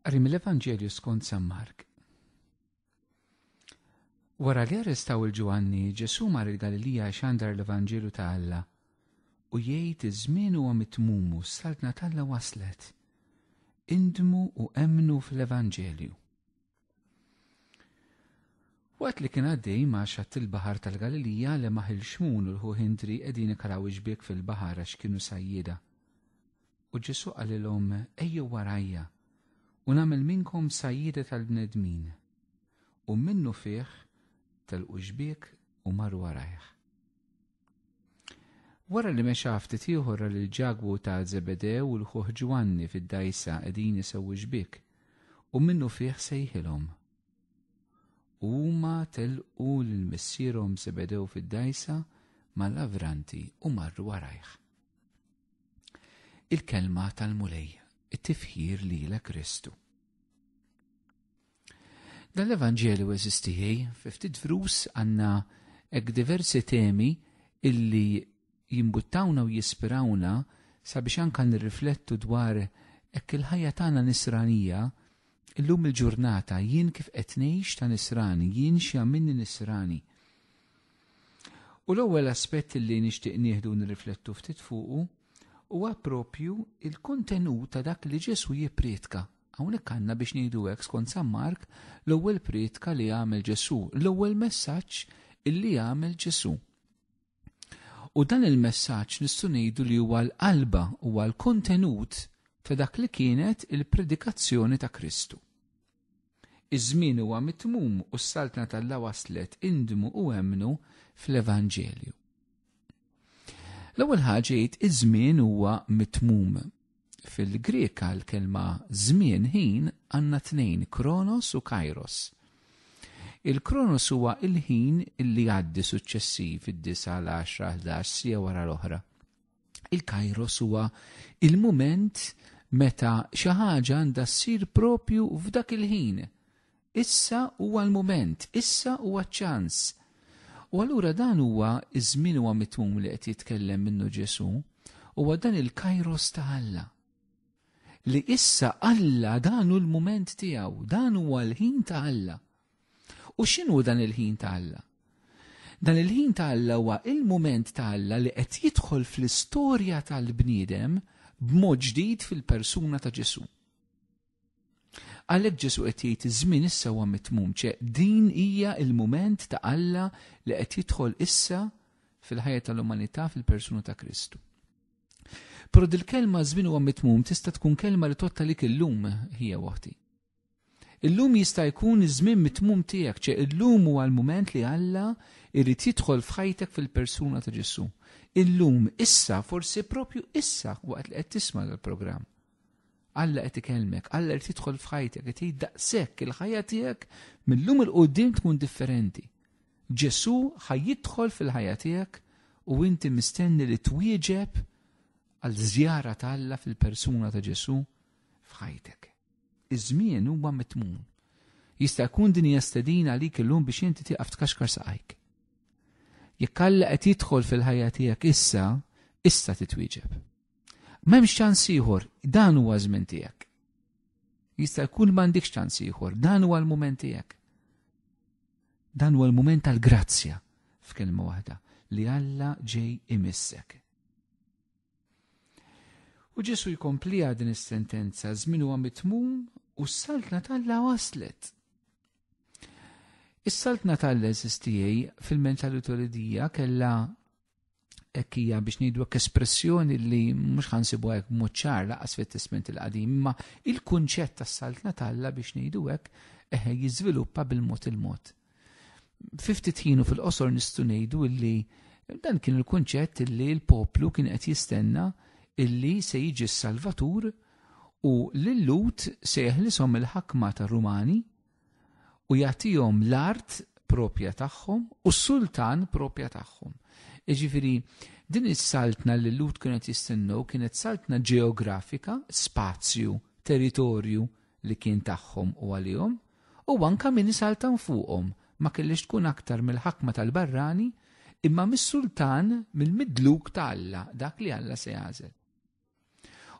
Qari mill-Evanġelju skont San Mark. Wara li arrestaw il-Ġwanni, Ġesu mar il-Galilija xandar l-Evanġelju ta' Alla u jgħid iż-żmien huwa mitmumu s-saltna t'Alla waslet. Indmu u emmnu fl-Evanġelju. Waqt li kien għaddej ma' xatt il-baħar tal-Galilija li maħil xmun u l-ħu Hindri qegħdin ikaraw iġbiek fil-baħar għax kienu sajjida. U Ġesu qalilhom ejjew warajja u nagħmel minnkom sajjida tal-bnedmin. U minnu fih telqu ġbiek u marru warajh. Wara li mexa ftit ieħor li l-ġagwu ta' Zebedew u l-ħuħ Ġwanni fid-dajsa qegħdin isewwi xbik u minnu fih sejħilhom. Huma telqu lil missierhom Zebedew fid-dajsa mal-avranti u marru warajh. Il-kelma tal-Mulej, it-tifħir lilek Kristu. Dan l-Evanġelju eżistijie, fi ftit vrus għandna hekk diversi temi illi jimbuttawna u jispirawna sabiex anka nirriflettu dwar hekk il-ħajja tagħna nisranija illum il-ġurnata jien kif qed ngħix ta' nisrani, jien xi għamilni nisrani. U l-ewwel aspett li nixtieq nieħdu nirriflettu ftit fuqu huwa propju il-kontenut ta' dak li Ġesu jipprietka Hawnhekk għandna biex ngħidu hekk skont San Mark l-ewwel prietka li għamel Ġesù, l-ewwel messaġġ illi għamel Ġesù. U dan il-messaġġ nistgħu ngħidu li huwa l-qalba huwa l-kontenut ta' dak li kienet il-predikazzjoni ta' Kristu. Iż-żmien huwa mitmum u s-saltna tal-la waslet indmu u emnu fl-Evanġelju. L-ewwel ħaġa jgħid iż-żmien huwa mitmum. Fil-Greka l-kelma żmien ħin għandna tnejn kronos u kairos. Il-kronos huwa il-ħin li għaddi suċċessiv id-disa l-10 11 sija wara l-oħra. Il-kairos huwa il-mument meta xi ħaġa għandha ssir propju f'dak il-ħin Issa huwa l-mument, issa huwa ċ-ċans. U allura dan huwa ż-żmien huwa mitmum li qed jitkellem minnu Ġesù, huwa dan il-kairos ta' Alla. Li issa Alla dan hu l-mument tiegħu, dan huwa l-ħin ta' Alla. U x'inhu dan il-ħin ta' Alla? Dan il-ħin ta' Alla huwa il-mument ta' Alla li qed jidħol fl-istorja tal-bniedem b'mod ġdid fil-persuna ta' Ġesu. Għalhekk Ġesu qed jgħid iż-żmien issa huwa mitmum, ċe din hija il-mument ta' Alla li qed jidħol issa fil-ħajja tal-umanità fil-persuna ta' Kristu. Però dil-kelma żmien huwa mitmum tista' tkun kelma li totta lik illum hija waħti. Illum jista' jkun iż-żmien mitmum tiegħek, ċe illum huwa l-mument li Alla irid jidħol f'ħajtek fil-persuna ta' Ġesu. Illum, issa, forsi propju issa waqt li qed tisma' l-programm. Alla qed ikellmek, Alla qed jidħol f'ħajtek, qed jgħid daqshekk il-ħajja tiegħek mill-lum il qudiem tkun differenti. Ġesù ħaj jidħol fil-ħajja tiegħek u inti mistenni li twieġeb għal żjara ta' Alla fil-persuna ta' Ġesù f'ħajtek. Iż-żmien huwa mitmun. Jista' jkun din hija stedina għalik illum biex inti tieqaf tkaxkar saqajk. Jekk Alla qed jidħol fil-ħajja tiegħek issa, issa titwieġeb. M'hemmx ċans ieħor, dan huwa żmien tiegħek. Jista' jkun m'għandikx ċans ieħor, dan huwa l-mument tiegħek. Dan huwa l-mument tal-grazzja f'kelma waħda li Alla ġej imissek. U Ġesu jkompli din is-sentenza żmien huwa mitmum u s-saltna tal-la waslet. Is-saltna tal-la eżistijaj fil-mentalità li dija kella hekk hija biex ngħidu hekk espressjoni li mhux ħansibu hekk b'mod ċar laqas fit-Testment il-Qadim, imma il-kunċett tas-saltna talla biex ngħidu hekk eh, jiżviluppa bil-mod il-mod. Fiftit ħinu fil-qosor nistgħu ngħidu li dan kien il-kunċett li l-poplu kien qed jistenna illi se jiġi s-Salvatur u l-lut se jeħlisom il-ħakma tar-Rumani u jagħtihom l-art propja tagħhom u s-sultan propja tagħhom. Iġifiri, din is-saltna li l-lut kienet jistennu kienet saltna ġeografika, spazju, territorju li kien tagħhom u għalihom, u anka min saltan fuqhom ma kellix tkun aktar mill-ħakma tal-barrani imma mis-sultan mill-midluk ta' Alla dak li Alla se jażel.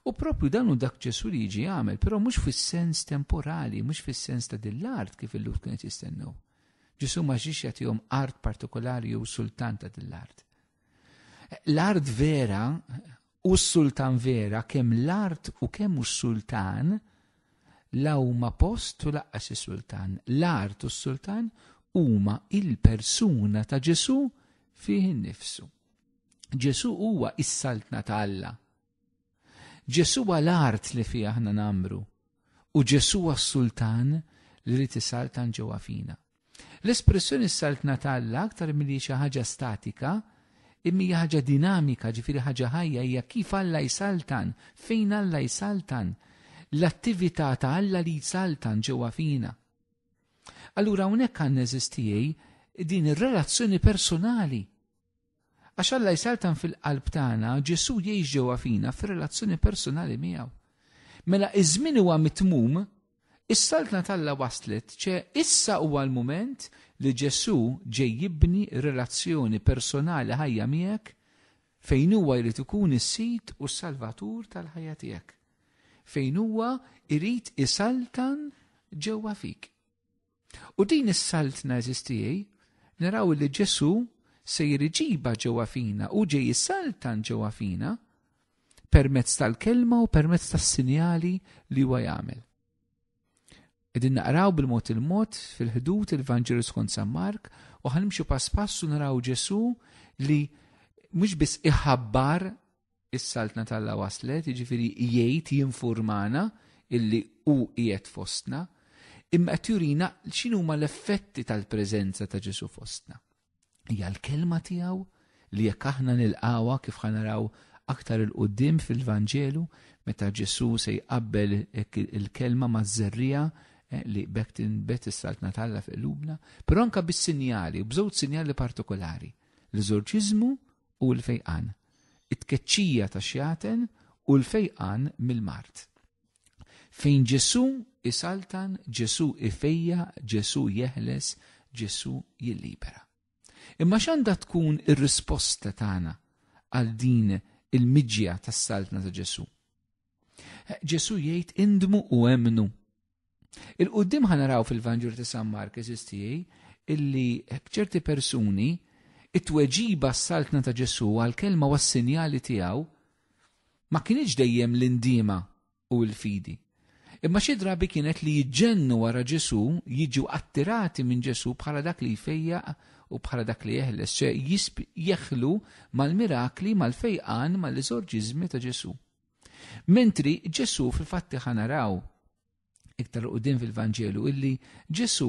U propju dan u dak Ġesu li jiġi għamel, però mhux fis-sens temporali, mhux fis-sens ta' din l-art kif il-lut kienet jistennew. Ġesu ma ġiex jagħtihom art partikolari jew sultan ta' din l-art. L-art vera u s-sultan vera kemm l-art u kemm u s-sultan la huma post u laqqas is-sultan. L-art u s-sultan huma il-persuna ta' Ġesu fih innifsu. Ġesu huwa is-saltna ta' Alla. Ġesu huwa l-art li fiha aħna namru u Ġesu huwa s-sultan li rrid isaltan ġewwa fina. L-espressjoni s-saltna ta' Alla aktar milli xi ħaġa statika imija ħaġa dinamika, ġifiri ħaġa ħajja, hija kif Alla jsaltan, fejn Alla jsaltan, l-attività ta' Alla li jsaltan ġewwa fina. Allura hawnhekk għandna eżistijej din ir-relazzjoni personali Għax Alla jsaltan fil-qalb tagħna, Ġesu jgħix ġewwa fina fir-relazzjoni personali miegħu. Mela iż-żmien huwa mitmum, is-saltna t'Alla waslet, ċe issa huwa l-mument li Ġesu ġej jibni relazzjoni personali ħajja miegħek fejn huwa jrid ikun is-sid u s-salvatur tal-ħajja tiegħek. Fejn huwa jrid isaltan ġewwa fik. U din is-saltna eżistijej, naraw li Ġesu se jiriġiba ġewwa fina u ġej saltan ġewwa fina permezz tal-kelma u permezz tas-sinjali li huwa jagħmel. Qegħdin naqraw bil-mod il-mod fil-ħdud il-Vanġelu skont San Mark u ħanimxu pass pass u naraw Ġesu li mhux biss iħabbar Is-Saltna t'Alla waslet, jiġifieri jgħid, jinfurmana illi hu qiegħed fostna, imma qed jurina x'inhuma l-effetti tal-preżenza ta' Ġesù fostna. Hija l-kelma tiegħu li jekk aħna nilqawha kif ħanaraw aktar il-qudiem fil-Vanġelu meta Ġesù se jqabbel il-kelma maż-żerrija Eh, li bekk tinbet is-saltna talla fi qlubna, però anka bis-sinjali, bżewġ sinjali partikolari, l-eżorċiżmu u l-fejqan. It-tkeċċija ta' xjaten u l-fejqan mill-mart. Fejn Ġesu isaltan, Ġesu ifejja, Ġesu jeħles, Ġesu jillibera. Imma x'għandha tkun ir-risposta tagħna għal din il-miġja tas-saltna ta' Ġesu? Ġesu jgħid indmu u emnu Il-qoddim ħanaraw fil-Vanġur ta' San Mark eżistijaj illi ċerti persuni it-tweġiba s-saltna ta' Ġesu għal-kelma u s-sinjali tiegħu ma kienieċ dejjem l-indima u l-fidi. Imma xi drabi kienet li jġennu wara Ġesu jiġu attirati minn Ġesu bħala dak li jfejja u bħala dak li jeħles, ċe jeħlu mal-mirakli, mal-fejqan, mal-eżorġizmi ta' Ġesu. Mentri Ġesu fil-fatti ħanaraw iktar u din fil-Vanġelu illi Ġesu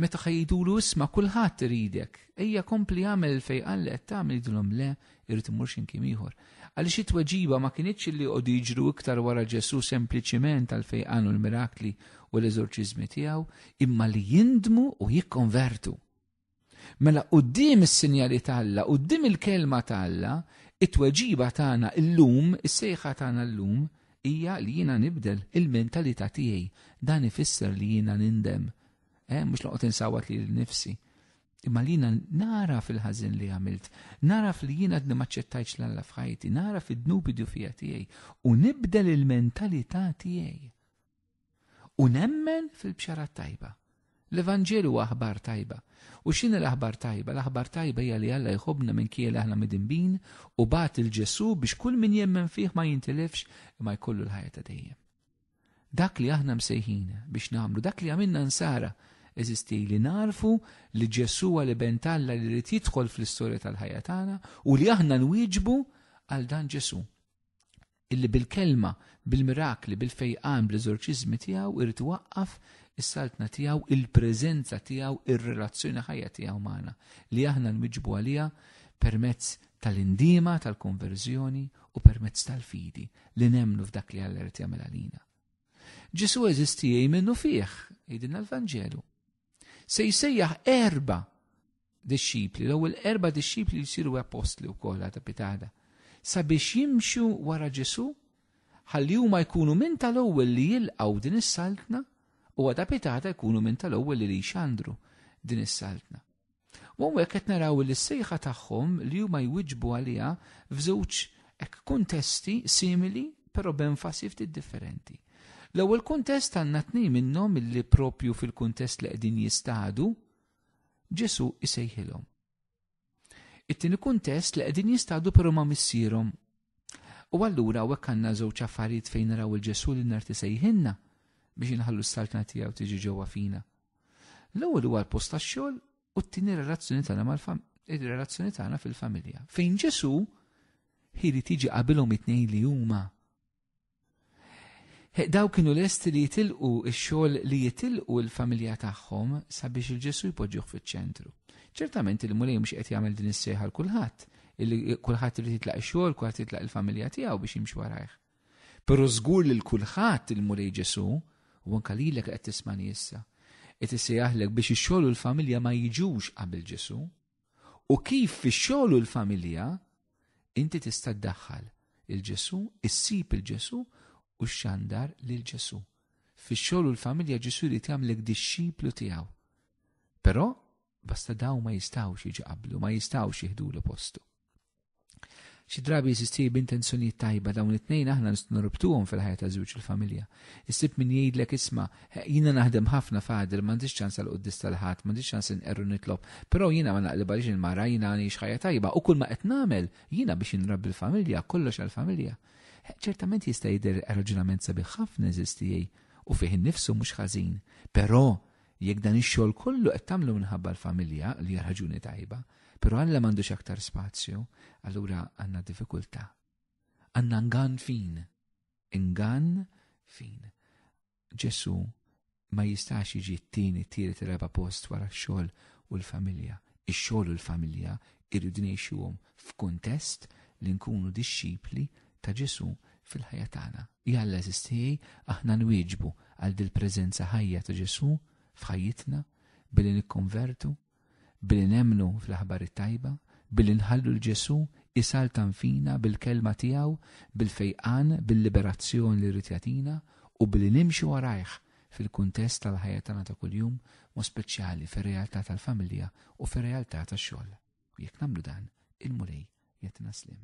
meta ħajdulu isma kulħadd iridek, ejja kompli għamel fej għallet tagħmel jidulhom le irrid imur x'imkien ieħor. Għaliex it-tweġiba ma kinitx li jqogħdu jiġru iktar wara Ġesu sempliċiment għal fej għanu l-mirakli u l-eżorċiżmi tiegħu, imma li jindmu u jikkonvertu. Mela quddiem is-sinjali ta' Alla, quddiem il-kelma ta' Alla, it-tweġiba tagħna llum, is-sejħa tagħna llum hija li jiena nibdel il-mentalità tiegħi. Dan ifisser li jiena nindem. Eh, mhux noqgħod insawat li l-nifsi. Imma li jiena nara fil-ħażin li għamilt, nara li jiena għadni maċċettajx l-Alla f'ħajti, nara fid-dnubi dufija tiegħi u nibdel il-mentalità tiegħi. U nemmen fil-bxara tajba. L-Evanġelu huwa aħbar tajba. U x'inhi l-aħbar tajba? L-aħbar tajba hija li Alla jħobbna minn kiel aħna midinbin u bat il-Ġesu biex kull min jemmen fih ma jintilifx imma jkollu l-ħajja ta' dejjem. Dak li aħna msejħin biex nagħmlu, dak li għamilna nsara, eżisti li narfu li Ġesu għal iben Alla li rrid jidħol fl-istorja tal-ħajja tagħna u li aħna nwieġbu għal dan Ġesu. illi bil-kelma, bil-mirakli, bil-fejqan, bl-eżorċiżmi tiegħu irid iwaqqaf is-saltna tiegħu, il-preżenza tiegħu, ir-relazzjoni ħajja tiegħu magħna li aħna nwiġbu għaliha permezz tal-indiema tal-konverżjoni u permezz tal-fidi li nemnu f'dak li Alla irid jagħmel għalina. Ġesu eżisti minnu fih, jgħidilna l-Vanġelu. Se jsejjaħ erba dixxipli, l-ewwel erba dixxipli jsiru apostli wkoll għadha pitada, sabiex jimxu wara Ġesu, ħalli huma jkunu minn tal-ewwel li jilqgħu din is-saltna u għadha pitada jkunu minn tal-ewwel li jxandru din is-saltna. U hawnhekk qed naraw li s-sejħa tagħhom li huma jwiġbu għaliha f'żewġ hekk kuntesti simili però b'enfasi ftit differenti. L-ewwel kuntest għandna tnejn minnhom illi propju fil-kuntest li qegħdin jistadu Ġesu isejħilhom. It-tieni kuntest li qegħdin jistadu però ma' missierhom U allura hawnhekk għandna żewġ affarijiet fejn naraw il-Ġesu li narti sejħinna biex inħallu s-saltna tiegħu tiġi ġewwa fina. L-ewwel huwa l-post tax-xogħol u t-tieni relazzjoni tagħna mal-fam ir-relazzjoni tagħna fil-familja. Fejn Ġesu ħili tiġi qabilhom it-tnejn li huma Daw kienu lesti li jitilqu x-xogħol li jitilqu l-familja tagħhom sabiex il-Ġesu jpoġġuh fiċ-ċentru. Ċertament il-Mulej mhux qed jagħmel din is-sejħa l kulħadd, kulħadd irid jitlaq ix-xogħol, kulħadd jitlaq il-familja tiegħu biex jimxi warajh. Però żgur li l-kulħadd il-Mulej Ġesu u anke lilek qed tismani issa. Qed isejjaħlek biex ix-xogħol u l-familja ma jiġux qabel Ġesu. u kif fix-xogħol u l-familja inti tista' ddaħħal il-Ġesu, issib il-Ġesu u xxandar lil Ġesu. Fix-xogħol u l-familja Ġesu jrid jagħmlek dixxiplu tiegħu. Però basta daw ma jistgħux jiġi qablu, ma jistgħux jieħdulu postu. Xi drabi jsisti b'intenzjonijiet tajba dawn it-tnejn aħna nistgħu norbtuhom fil-ħajja ta' żewġ il-familja. Issib min jgħidlek isma' jiena naħdem ħafna fadil m'għandix ċans għal quddis tal-ħadd, m'għandix ċans inqerru nitlob, però jiena ma naqlib għaliex il-mara jiena għanix ħajja tajba u kull ma qed nagħmel jiena biex inrabbi l-familja, kollox għall-familja. Ċertament jista' jidher raġunament sabiħ ħafna eżistijej u fih innifsu mhux ħażin, però Jekk dan ix-xogħol kollu qed tagħmlu minħabba l-familja, li hija raġuni tajba, però Alla m'għandux aktar spazju, allura għandna diffikultà. Għandna ngan fin. Ingan fin. Ġesu ma jistax jiġi t-tieni t-tielet raba post wara x-xogħol u l-familja. Ix-xogħol u l-familja irridu ngħixuhom f'kuntest li nkunu dixxipli ta' Ġesù fil-ħajja tagħna. Jalla għeżież tiegħi, aħna nwieġbu għal dil-preżenza ħajja ta' Ġesù f'ħajjitna billi nikkonvertu, billi nemmnu fl-aħbar it-tajba, billi nħallu l-Ġesù isaltan fina bil-kelma tiegħu, bil-fejqan, bil-liberazzjoni li rrid jagħtina u billi nimxu warajh fil-kuntest tal-ħajja tagħna ta' kuljum, mo speċjali fir-realtà tal-familja u fir-realtà tax-xogħol. U jekk nagħmlu dan, il-Mulej jagħtina slim.